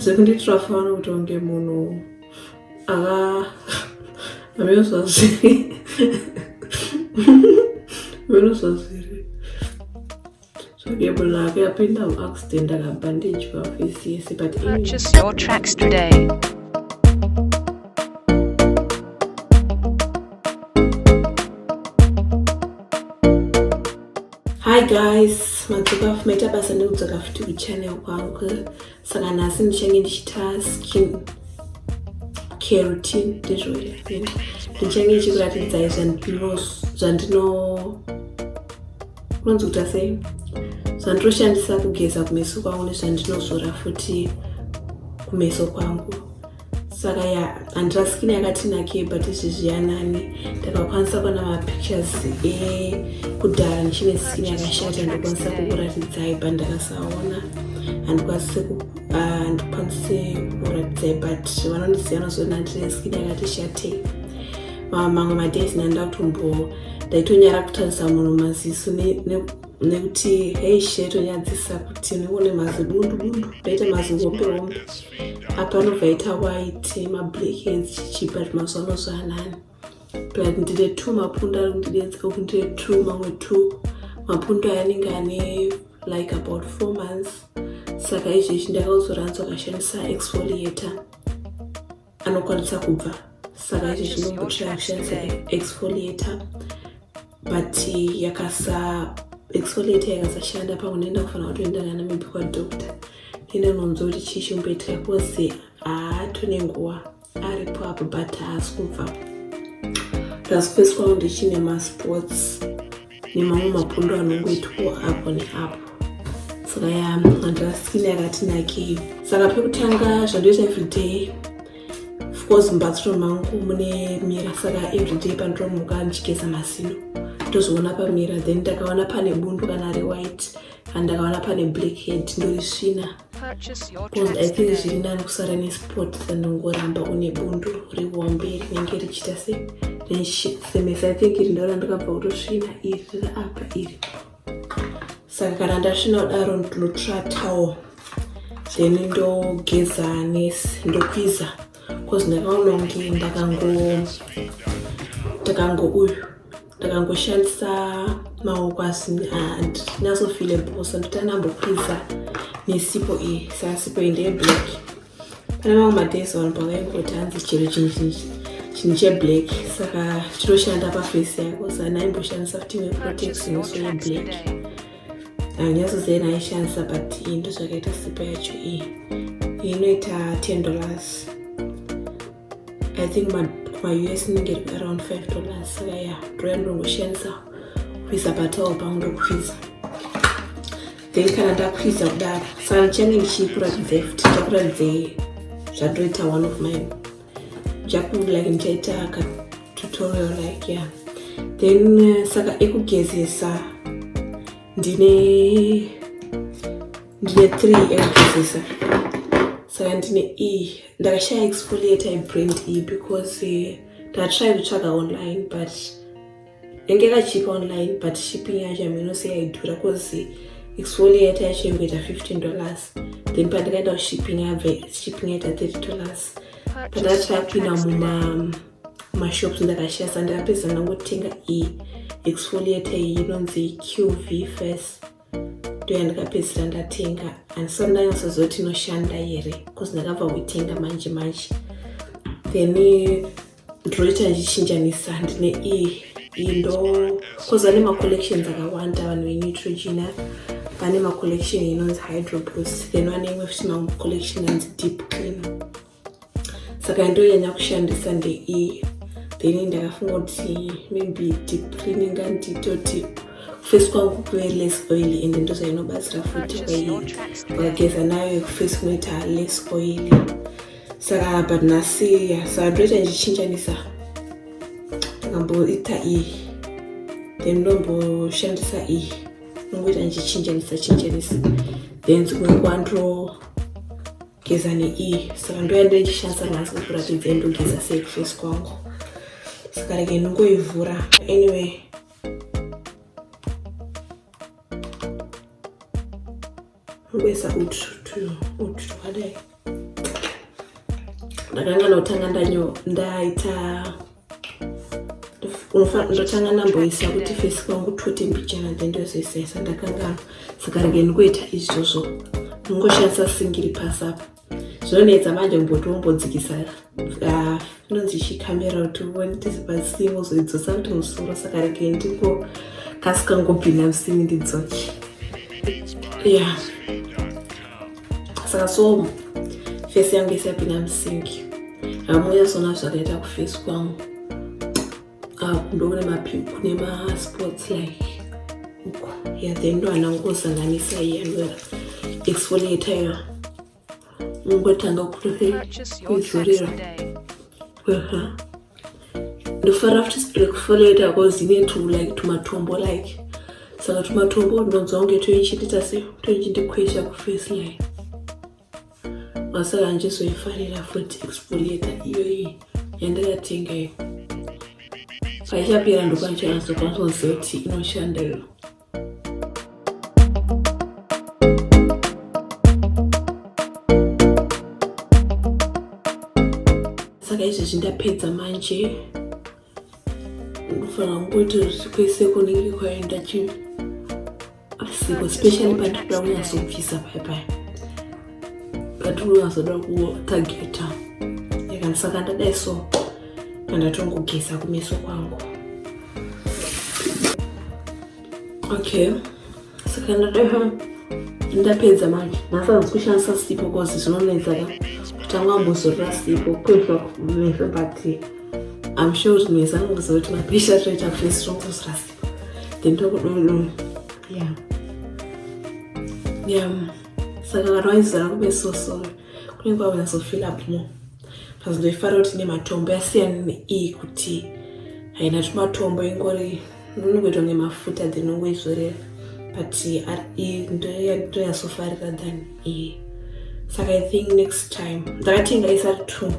zvekundiitira fano kuti unge munhu aka amiro zvazviri amiro zvazviri zvake munhu ake apinda muaccident akabhandijwa face yese but purchase your tracks today Hi guys, madzoka fumaita basa ndikudzoka futi kuchannel kwangu saka nhasi ndichange ndichita skin care routine ndizvo here ndichange ndichikuratidzai zvandino unonzi kuta sei zvanditoshandisa kugeza kumeso kwangu nezvandinozora futi kumeso kwangu saka ya handirasikini yakatinakei but izvezvi yanani ndakakwanisa kuona mapictures ekudhara eh, ndichine sikini yakashata ndikwanisa kukuratidzai but ndakasaona handikwanise kukuratidzai but vanondiziva vanozoona ndine sikini yakati shatei mamwe madays nanda kutombo ndaitonyara kutarisa munhu maziso nekuti hei shetonyadzisa kuti nekune mazidundudundu ndaita mazihope hombe apa anobva aita white mablackheads chichipa zvemazuva ano zvaanani but ndine two mapundu ari kundidetsa kuti ndine two mamwe two mapundu aya anenge ane like about four months saka izvezvi ndakauzoranzwa kashandisa exfoliator anokwanisa kubva saka izvezvi ndombotira kushandisa exfoliator but yakasa exfoliate yakasashanda pamwe nenda kufanira kutoenda kana maybe kwadoctor nenda unonzwa kuti chii chimboitika bcause haatone nguva aripo apo but haasi kubva plus kwavo ndichine masports nemamwe mapundu anongoitwa apo neapo saka ya andira skin yakatinakei saka pekutanga zvandoita everyday of course mubathroom mangu mune mira saka everyday pandinomuka ndichigeza mazino ndozoona pamira then ndakaona pane bundu kana rewhite and ndakaona pane black head ndorisvina bcause i think zviri nani kusara nesport tandongoramba une bundu rihombe rinenge richiita se then semesa i think iri ndora ndakabva kutosvina iri riri apa iri saka kana ndasvina kudaro ndinotratawo then ndogeza nesi ndokwiza bcause ndakaona kunge ndakango ndakango uyu ndakangoshandisa maoko asi ndinasofile bhosa ndoti anambokwiza nesipo iyi saka sipo iyi ndeyeblack pane mamwe madays vanhu pavaingoti hanzi chero chinhu cheblack saka chinoshanda pafesi yako zana aimboshandisa futi weprotex noso yeblack anyatsozena aishandisa but iyi ndozvakaita sipa yacho iyi inoita ten dollars i think maus inenge iri around five dollars saka ya ndoya ndongoshandisa kuisa patawo pangu ndokufisa then kana ndakwiza kudaro saka change ndichikuratidzei futi ndichakuratidzei zvatoita one of mine jaku like ndichaita ka tutorial like yeah then uh, saka ekugezesa ndine ndine three ekugezesa saka ndine e ndakashaya exfoliate ibrand e because uh, ndatry kutsvaga online but yange yakachipa online but shipping yacho yaminose yaidhura cause exfoliator yacho yangoita 15 dollars then pandikaenda kushipping yabve shipping yaita 30 dollars pandakatapinda mumashops ndakashiya sa ndakapedza ndangotenga iyi exfoliator iyi inonzi qv face ndoya ndikapedzisira ndatenga handisati ndanyasozoti inoshanda here bcause ndakabva kuitenga manje manje then ndinoita ndichinjanisa ndine iyi iyi ndo bcause vane macollections akawanda vanhu veneutrogena vane macollection inonzi hydroplus then vane imwe futi macollection anzi deep cleaner saka yandoyanya kushandisa ndeiyi then ndakafunga kuti maybe deep cleaning nganditoti kufesi kwangu kuve less oily and ndozvainobatsira futi kwaiyi ukageza nayo yekufesi kunoita less oily saka but nhasi saka ndoita ndichichinjanisa ndakamboita iyi then ndomboshandisa iyi nongoita ndichichinjanisa chinjanisa then dzimwe kwandro geza neiyi saka ndoyanda ichishandisa nhasi kukuratidza indogeza sei kufesi kwangu saka rege ndingoivhura anyway ngoisa utu utu twakadai ndakanga notanga ndaita ndotanga ndamboisa kuti fesi kwangu tote mbichana then ndozoisa isa ndakanganwa saka rege ndikuita izvozvo ndingoshandisa singiri pasi apa zvinonetsa manje kumboti wombodzikisa ah, inonzi chi camera kuti uone tese pasi wozoidzosa kuti musoro saka rege ndiko kasi kangobvina msini ndidzoki ya yeah. saka so face yangu yese yapinda musinki hamunyazona zvakaita kuface kwangu ah, ndoone mapimpu nemasports like uko ya then ndo anangosanganisa iye anoera exfoliator iyo ungotanga kutozorera ndofara futi spirit kufolloweta because ine to like tumatombo like saka tumatombo ndinonzwa kunge toichitita se toichindikwesha kuface line masaka andichizoifarira futi exfoliata iyoyi yandakatenga iyo paichapera ndokwandichanasokwanisoziva kuti inoshanda iyo saka izvezvi ndapedza manje ndofanira kungoita kwese kunenge kwaenda chinhu asiko specially pandikuda kunyasokubvisa paya paya but unozoda kutageta and saka ndadai so andatongogeza kumeso kwangu okay saka ndadai ndapedza manje nhasi hanzi kushandisa sipo bcause zvinonetsaka kutanga mbozorora sipo kuitwa kumesa but im sure kuti mesa anokuziva kuti mapisha toita face rongozora sipo then tokudodona yeah yeah saka kana waizara kube so sorry kunenge kwakunyazofeel up more pazindoifara kuti ine matombo yasiyana neiyi kuti haina tumatombo ingori nonongoitwa nemafuta then ongoizorera but ndoyasofarira than iyi saka i think next time ndakatenga isati two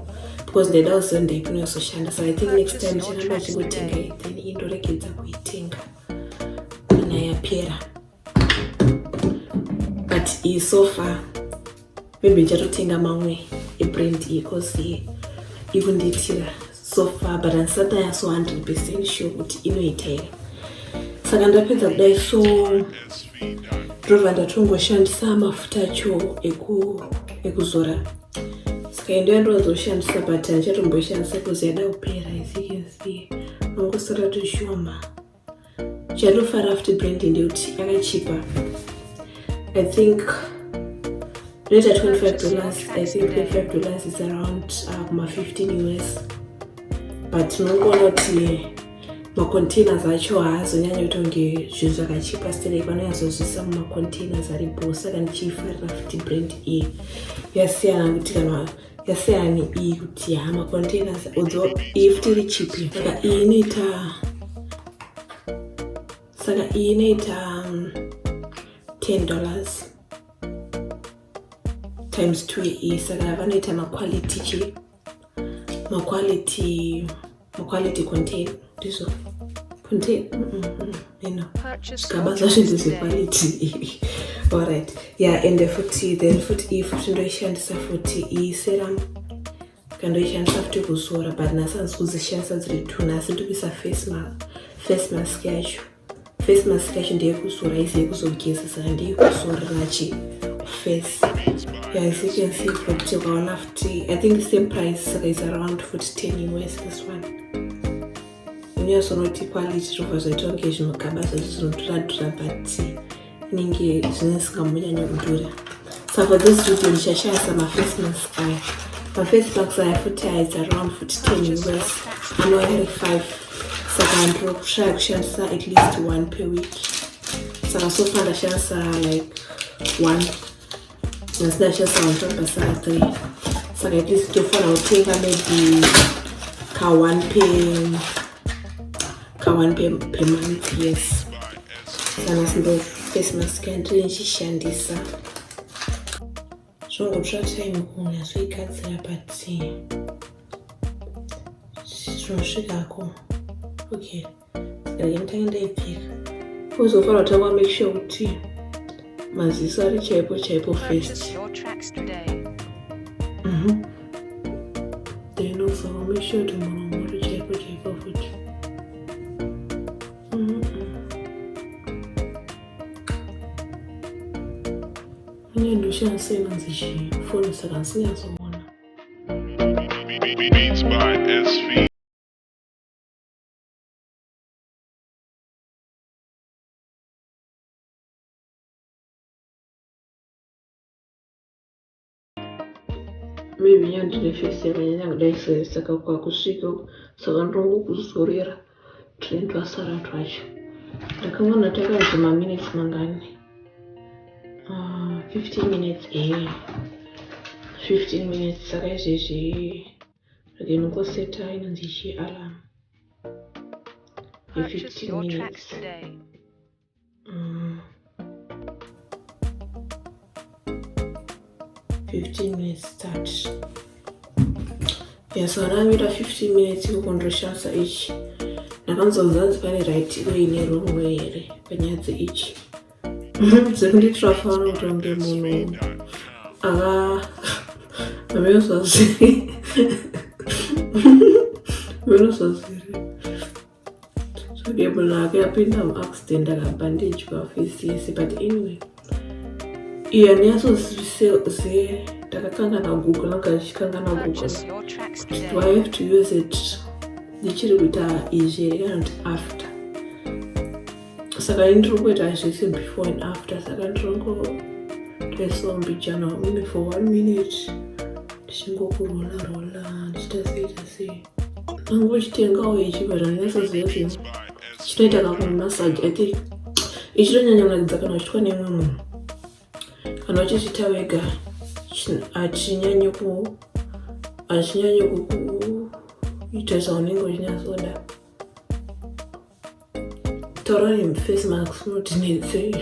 because ndaida kuziva ndaipinoyasoshanda saka i think next time ndicharamba achingotenga then indoregedza kuitenga kana yapera but iyi so far maybe ndichatotenga mamwe ebrand iyi cause iyi ikundiitira so far but handisati ndaya so 100 percent sure kuti inoita here saka ndapedza kudai so ndobva ndatongoshandisa mafuta acho ekuzora saka endo yandovazoshandisa but handichatomboishandisa kuzi yada kupera isikensi angosara toshoma chandinofara futi brand ndeuti yakachipa i think rate 25 dollars i think 25 dollars is around uh, kuma uh, 15 us but unongoona kuti macontainers acho haazonyanya kutonge zvinhu zvakachipa stelek vanonyazozvisa mumacontainers aripo saka ndichiifarira futi brand iyi yasiyana kuti kana yaseyani iyi kuti ha macontainers odzo iyi futi iri chipi saka iyi inoita saka iyi inoita 10 um, dollars times 2 iyi saka vanoita maquality chi maquality quality contain ndizvo contain ino zvigaba zvacho ndezvequality alright yeah ende futi then futi if tindoishandisa futi iyi serum kandoishandisa futi kuzora but nhasi handisi kudzishandisa dziri two nhasi ndikuisa face mask yacho face mask yacho ndeyekuzora isi yekuzogezesa ndeyekuzorera chi face yeah, as you can see futi ukaona futi i think same price saka is around futi ten us this one unyazonoti quality zvobva zvaita kunge zvimagaba zvacho zvinotoradura but inenge zvine zvisingambonyanyo kudhura saka this video ndichashaya samaface mask aya maface mask aya futi aidza around futi ten us anouya ari five saka ndiro kushaya kushandisa at least one per week saka so far ndashandisa like one nhasi ndashasa kutsvaga saa three saka at least tofanira kutenga maybe ka one pe ka one pe per month yes sanasi ndo face mask yandiri ndichishandisa zvongotsva time kunyasoigadzira but zvinosvikako okay ndaindaenda ipfeka uzofanira kutanga make sure kuti maziso ari chaipo chaipo first mhm. then also make sure kuti muromo uri chaipo chaipo futi mhm. uye ndoshandisa inonzi chii foni saka ndisinyazoona Beats by SV. maybe yandine face yakanyanya kudai sei saka kwakusvika saka ndongokuzorera tune twasara twacho ndakaona takanzi maminutes mangani 15 ah, minutes e eh. 15 minutes saka izvezvi Ndinongoseta inonzi chi alarm ye 15 minutes today. Mm. 15 minutes start yasaramira 15 minutes kukondoshansa ichi ndakanzonzanzi pane right way nerong way here panyaya dzeichi zvekunditrafawo kutonge munhu ava ameyosaziri ameyosaziri sodebona ake apinda muaccident akabva ndidya fisi yese but anyway iyo aniyasozise ndakakangana google nanga ndichikangana google do i have to use it ndichiri kuita izvi here kana kuti after saka ini ndiri kuita zvese before and after saka ndirongotoisawo mbijana wamune for one minute ndichingokurola rola ndichita sei ta sei nangu uchitengawo ichi but andisaziva kuti chinoita kakunhu massage i think ichitonyanya kunakidza kana uchitwa neimwe munhu kana uchichita wega hachinyanyi ku hachinyanyi kukuita zvaunenge uchinyatsoda Tororium face mask unotinetsei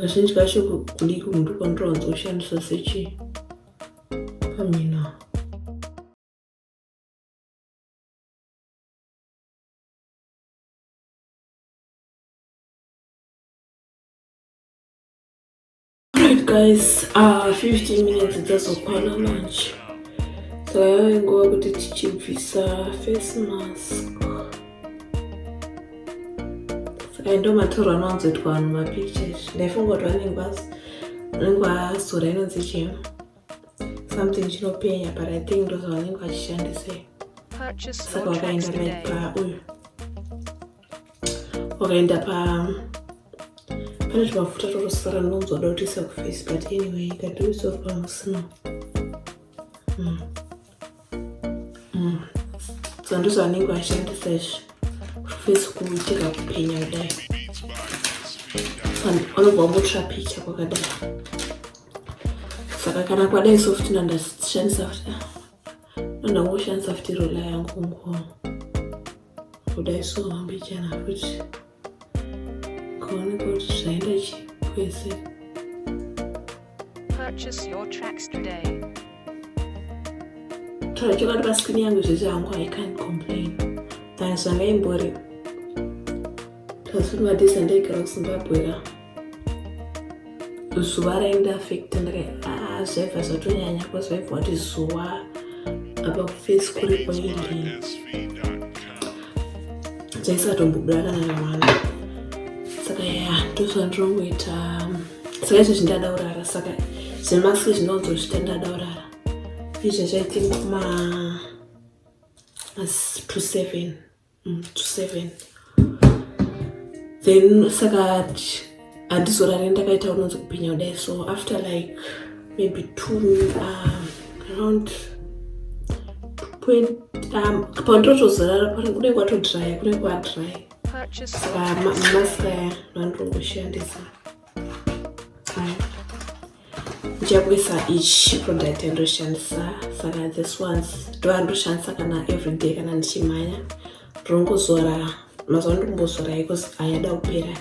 kazhinji kacho kudiki munhu kwandirowanza kushandisa sechii pamina Right guys, uh, 15 minutes dzazokwana manje saka yave nguva kuti tichibvisa face mask saka ndo matoro anowanzoitwa vanhu mapictures ndaifunga kuti vanenge vanenge vasora inonzi chii something chinopenya but i think ndozvavanenge vachishandisei saka wakaenda maipa uyu wakaenda pa pane tumafuta twakasara ndonzwa da kuti isa kuface but anyway ikatiwiswa pamusina mm. mm. so ndizvo anenge vashandisa izvi kuface kuitira kupenya kudai vanobva vambotsva picha kwakadai saka kana kwadai sofuti nandashandisa futi ndangoshandisa futi rola yangu kungoona kudai so hambichana futi kaoneka kuti zvaenda chi kwese tarachokwadi paskrini yangu zvese hangu i can't complain than zvangaimbori tazvinovatisa ndaigara kuzimbabwe ra zuva raenda afekta ndaka ah, zvaiva zvatonyanya kwazvaiva wati zuva apa kufesi kuri kwaindi zvaisatombobuda kana namwana saka ya ndozvandirongoita saka izvezvi ndadaurara saka zvemaski zvinonzozvita ndadaurara izvezvi i think ma to seven mm, to seven then saka handizorare ndakaita unonzi kupenya kudai so after like maybe two um, around um, pandotozorara pano kudai kwatodrya kudai kwadrya saka maskaya ndandongoshandisa ndichakuisa each product yandoshandisa saka this ones ndoandoshandisa kana everyday kana ndichimhanya ndongozora mazuva ndombozora because ayada kupera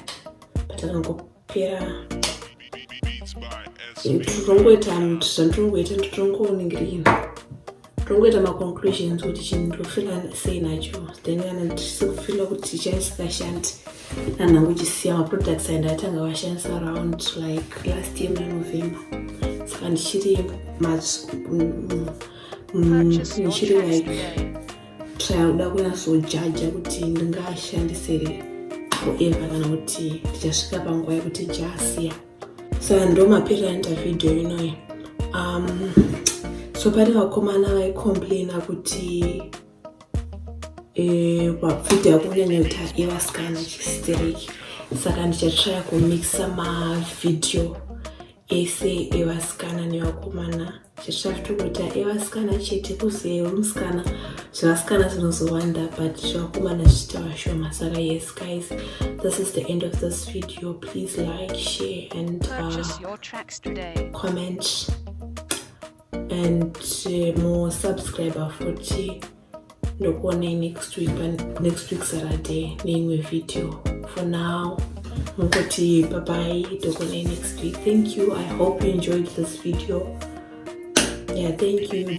but akangopera ndongoita zvandirongoita nditongooningirina tongoita maconclusions kuti chinhu ndofila sei nacho then kana tisikufila kuti chaisikashandi nanhangu chisiya maproducts aenda atanga vashandisa around like last year manovember saka ndichiri ndichiri like tryauda kunyasojaja kuti ndingashandisere forever kana kuti tichasvika panguva yekuti chasiya so ndo mapiri anoita vhidhiyo inoyi um, so pane vakomana vaicomplaina kuti eh, vapfuti e, yakunyanyota yevasikana chistereki saka ndichatraya kumixa mavhidhiyo ese evasikana nevakomana zvatokuita evasikana chete kuzeyo musikana zvevasikana zvinozowanda but zvevakomana zvichita vashoma saka yes guys this is the end of this video please like share and uh, comment and uh, more subscriber futi ndokuonei next week next week saturday neimwe video for now mukoti bye bye ndokuonei next week thank you i hope you enjoyed this video yeah thank you bye